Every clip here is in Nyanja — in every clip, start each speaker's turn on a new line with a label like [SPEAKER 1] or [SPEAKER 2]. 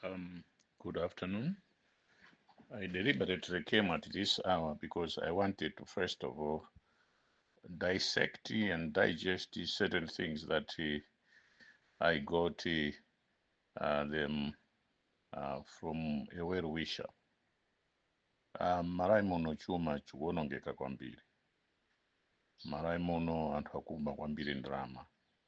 [SPEAKER 1] Um, good afternoon. I deliberately came at this hour because I wanted to, first of all, dissect and digest certain things that uh, I got uh, uh, them uh, from a well wisher. Um, marayi muno chuma chikuwonongeka kwambiri marayi muno anthu akuba kwambiri ndalama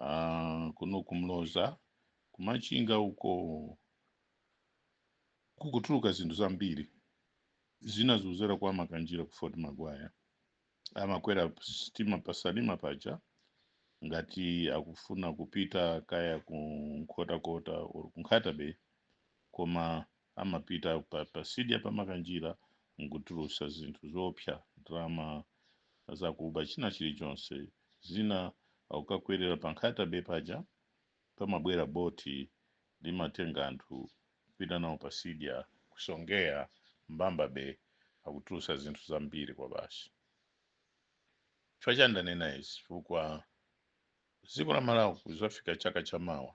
[SPEAKER 1] Ah, kuno kumloza kumachinga uko kukutuluka zinthu zambiri zina zikuzera kwa makanjira ku Fort Maguire amakwera sitima pasalima paja ngati akufuna kupita kaya ku nkhotakota or ku Nkhata Bay koma amapita pa, pa sidya pamakanjira nkutulusa zinthu zoopsa ndalama zakuba china chilichonse zina akukakwerera pa Nkhata Bay paja pamabwera boti limatenga anthu kupita nawo pa sidya kusongea Mbamba Bay akutulusa zinthu zambiri kwa basi chifukwa chani ndanena izi chifukwa dziko la malawi kuzafika chaka cha mawa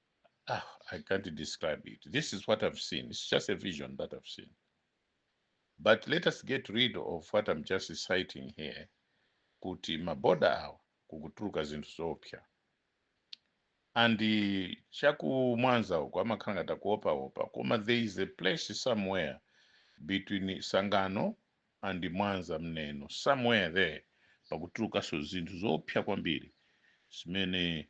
[SPEAKER 1] ah, I can't describe it. This is what I've seen. It's just a vision that I've seen. But let us get rid of what I'm just citing here. Kuti maboda awo kukutuluka zinthu zoopsa. And chaku mwanza uko amakhala ngati akuopaopa koma there is a place somewhere between Tsangano and Mwanza mneno somewhere there pakutulukanso zinthu zoopsa kwambiri zimene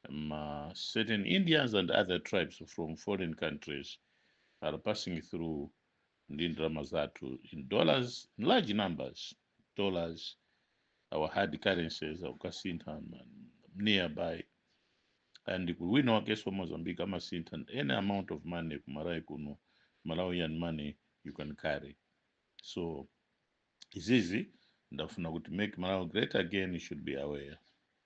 [SPEAKER 1] um, uh, certain Indians and other tribes from foreign countries are passing through ndi ndalama zathu in dollars in large numbers dollars our hard currencies akukasintha ma- nearby and kuli wina wakenso wa mozambique amasintha any amount of money ku malawi kuno malawian money you can carry so izizi ndafuna kuti make malawi great again you should be aware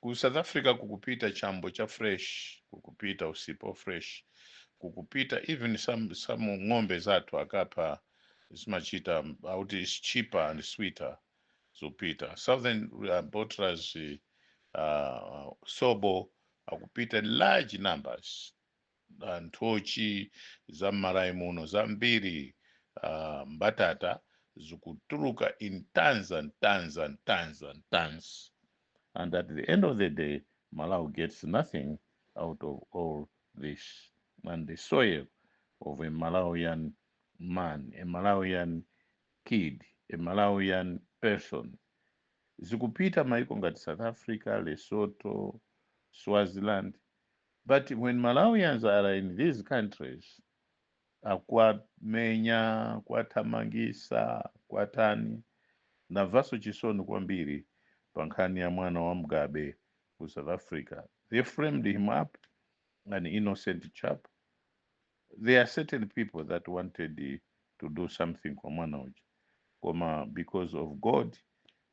[SPEAKER 1] Ku South Africa kukupita chambo cha fresh, kukupita usipa wa fresh, kukupita even some some ng'ombe zathu akapha zimachita akuti it's cheaper and sweeter zopita southern uh, bottlers uh, sobo akupita in large numbers uh, nthochi za m'malawi muno zambiri uh, mbatata zikutuluka in tons and tons and tons and tons and at the end of the day malawi gets nothing out of all this and the toil of a malawian man a malawian kid a malawian person zikupita maiko ngati south africa lesotho swaziland But when Malawians are in these countries akuwamenya, kuwathamangisa, kuwatani, ndamvaso chisoni kwambiri pa nkhani ya mwana wa Mugabe ku South Africa. They framed him up, an innocent chap. There are certain people that wanted to do something kwa mwana uja. Koma because of God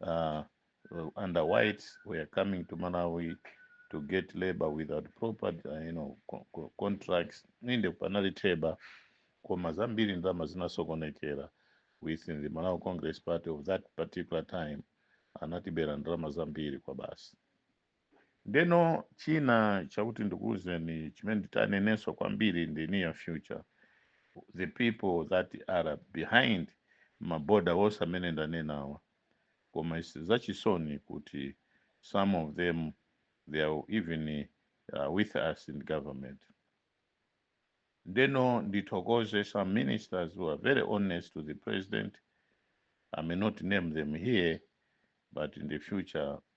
[SPEAKER 1] uh, under whites were coming to Malawi to get labor without proper uh, you know, co co contracts nde panali theba koma zambiri ndalama zinasokonekera within the Malawi Congress Party of that particular time anatibera ndalama zambiri kwa basi Ndeno china chakuti ndikuuzeni chimene nditanenenso kwambiri in the near future the people that are behind maboda wonse amene ndanenawa koma isi zachisoni kuti some of them they are even uh, with us in government ndeno ndithokoze some ministers who are very honest to the president i may not name them here but in the future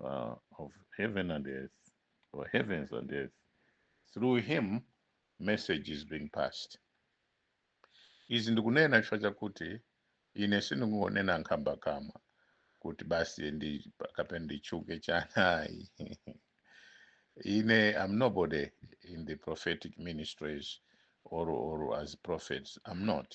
[SPEAKER 1] uh, of heaven and earth, or heavens and earth. Through him, message is being passed. Izi ndikunena chifukwa chakuti ine sindingonena nkhambakamwa kuti basi kapena nditchuke chani ayi. I'm nobody in the prophetic ministries or, or as prophets. I'm not.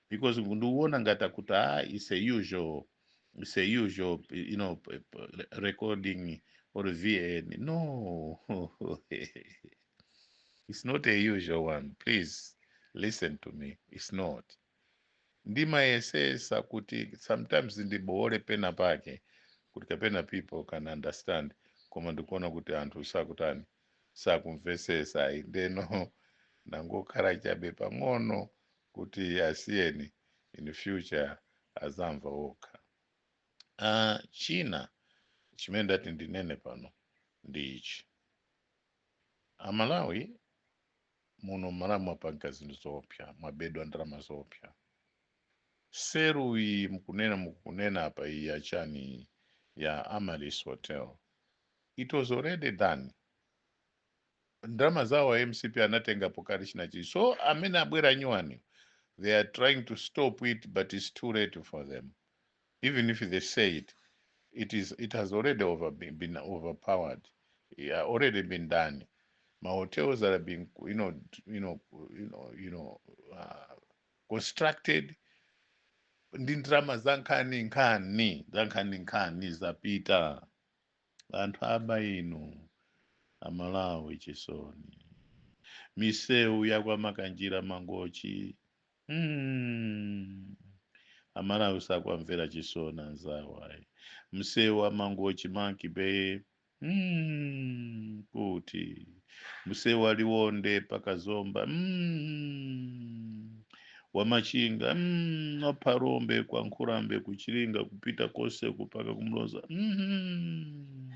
[SPEAKER 1] because ndikuona ngati akuti ah, it's a usual it's a usual you know p- p- recording or vn no it's not a usual one please listen to me it's not ndimayesesa kuti sometimes ndiboole pena pake kuti kapena people can understand koma ndikuona kuti anthu sakutani sakumvesesa ayi ndeno ndangokhala chabe pang'ono kuti asiyeni in future azamva okha uh, china chimene ndati ndinene pano ndi ichi amalawi muno mmalawi mwapanga zinthu zoopsa mwabedwa ndalama zoopsa seru iyi mkunena mkunena apa iyi yachani iyi ya amaryllis hotel it was already done Ndalama zawo za mcp anatengapo kale chinachi so amene abwera nyuwani they are trying to stop it but it's too late for them even if they say it it is it has already over been, been overpowered yeah, already been done ma hotels that are being you know you know you know you know uh, constructed ndi ndalama za nkhani nkhani za nkhani nkhani zapita anthu aba inu amalawi chisoni misewu ya kwa makanjira mangochi mm. amalawi sakuwamvera chisoni anzawo ayi msewu wa mangochi monkey bay mm. kuti msewu wa liwonde paka zomba mm. wamachinga mm. wa phalombe kwa nkhulambe kuchilinga kupita konse mpaka kumuloza mm.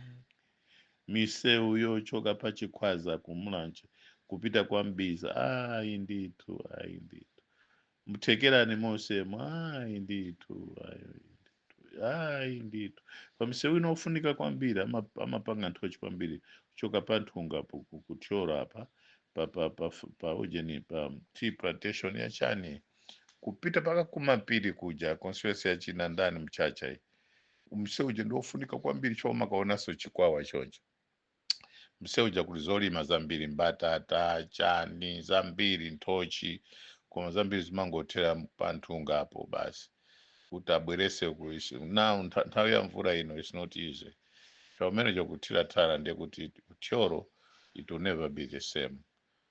[SPEAKER 1] misewu yochoka pa chikwaza kumulanje kupita kwa mbiza ayi ndithu ayi ndithu mthekerani monsemu ayi ndithu ayi ndithu ayi ndithu pamsewu wina ofunika kwambiri ama- amapanga nthochi kwambiri kuchoka pa nthunga ku- kuthyola apa pa pa pa pa ujeni pa tea plantation ya chani kupita paka kumapiri kuja constituency ya che ndani mchacha ii msewu uja ndi ofunika kwambiri chomwe mukaonanso chikwawa choncho mseu uja kuli zolima zambiri mbatata chani zambiri nthochi koma zambiri zimangothera panthungapo basi kuti abwerese ku isi- now ntha- nthawi ya mvula ino is not easy chaumene chakuthira tara ndiye kuti thyolo it will never be the same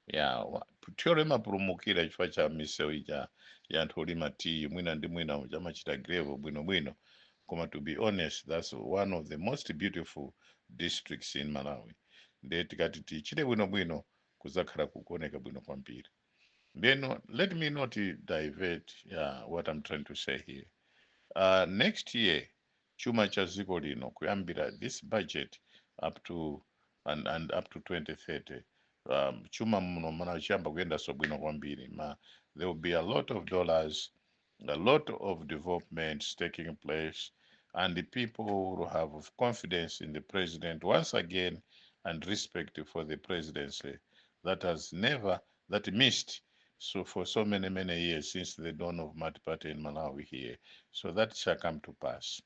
[SPEAKER 1] ya wa- thyolo imapulumukira chifukwa cha misewu ija ya anthu olima tiyi mwina ndi mwina ija amachita grevo bwinobwino koma to be honest that's one of the most beautiful districts in malawi ndiye tikati tichite bwinobwino kuzakhala kukuoneka bwino kwambiri then let me not divert uh, what i'm trying to say here uh, next year chuma cha dziko lino kuyambira this budget up to and, and up to 2030 um, chuma muno mana chiyamba kuyendanso bwino kwambiri ma there will be a lot of dollars a lot of developments taking place and the people will have confidence in the president once again and respect for the presidency that has never that missed so for so many many years since the dawn of multiparty in malawi here so that shall come to pass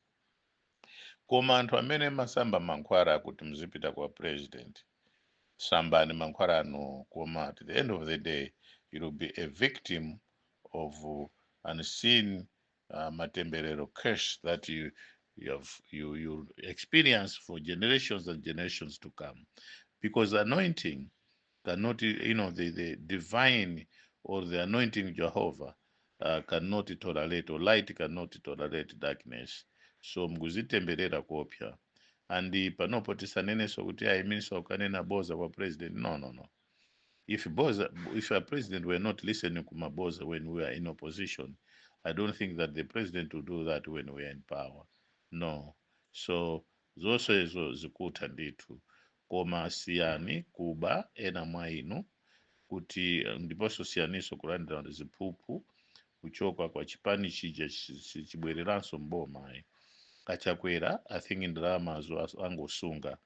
[SPEAKER 1] koma anthu amene mwasamba mankhwala kuti mzipita kwa president sambani mankhwala anuwo koma at the end of the day you will be a victim of unseen uh, matembelero curse that you you have you you experience for generations and generations to come because anointing cannot you know the, the divine or the anointing jehovah uh, cannot tolerate or light cannot tolerate darkness so mkuzitemberera kuopsa and panopo tisanenenso kuti ayiminso ukanena boza kwa president no no no If Boza, if a president were not listening kumaboza when we are in opposition, I don't think that the president will do that when we are in power. No. So zonse izo zikutha ndithu koma siyani kuba ena mwa inu kuti eh, ndiponso siyaniso kulandira ziphuphu kuchoka kwa chipani chija chi- chi- chibwereranso mboma ayi chakwera i think ndalamazo as- angosunga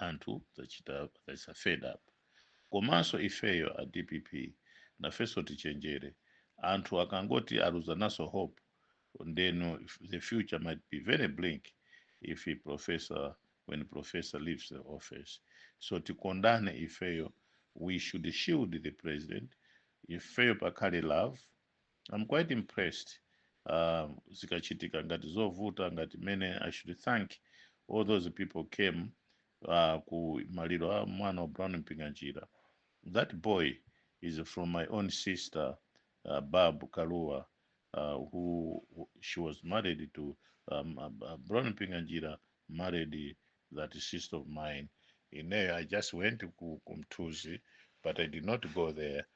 [SPEAKER 1] anthu zachita that's a fed up komanso ifeyo a dpp nafenso tichenjere anthu akangoti aluza naso hope then the future might be very bleak if he professor when professor leaves the office so tikondane ifeyo we should shield the president ifeyo pakhale love I'm quite impressed uh, zikachitika ngati zovuta ngati mene I should thank all those people came uh, ku maliro a mwana wa Brown Mpinganjira that boy is from my own sister uh, Babu Kalua uh, who who- she was married to um, uh, uh, Brown Mpinganjira married that sister of mine ineyo I just went ku, ku Mthuzi but I did not go there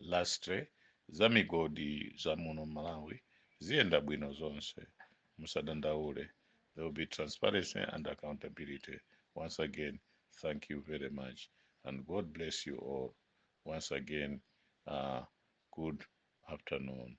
[SPEAKER 1] lastre za migodi za muno malawi ziyenda bwino zonse musadandaule there will be transparency and accountability once again thank you very much and god bless you all once again uh, good afternoon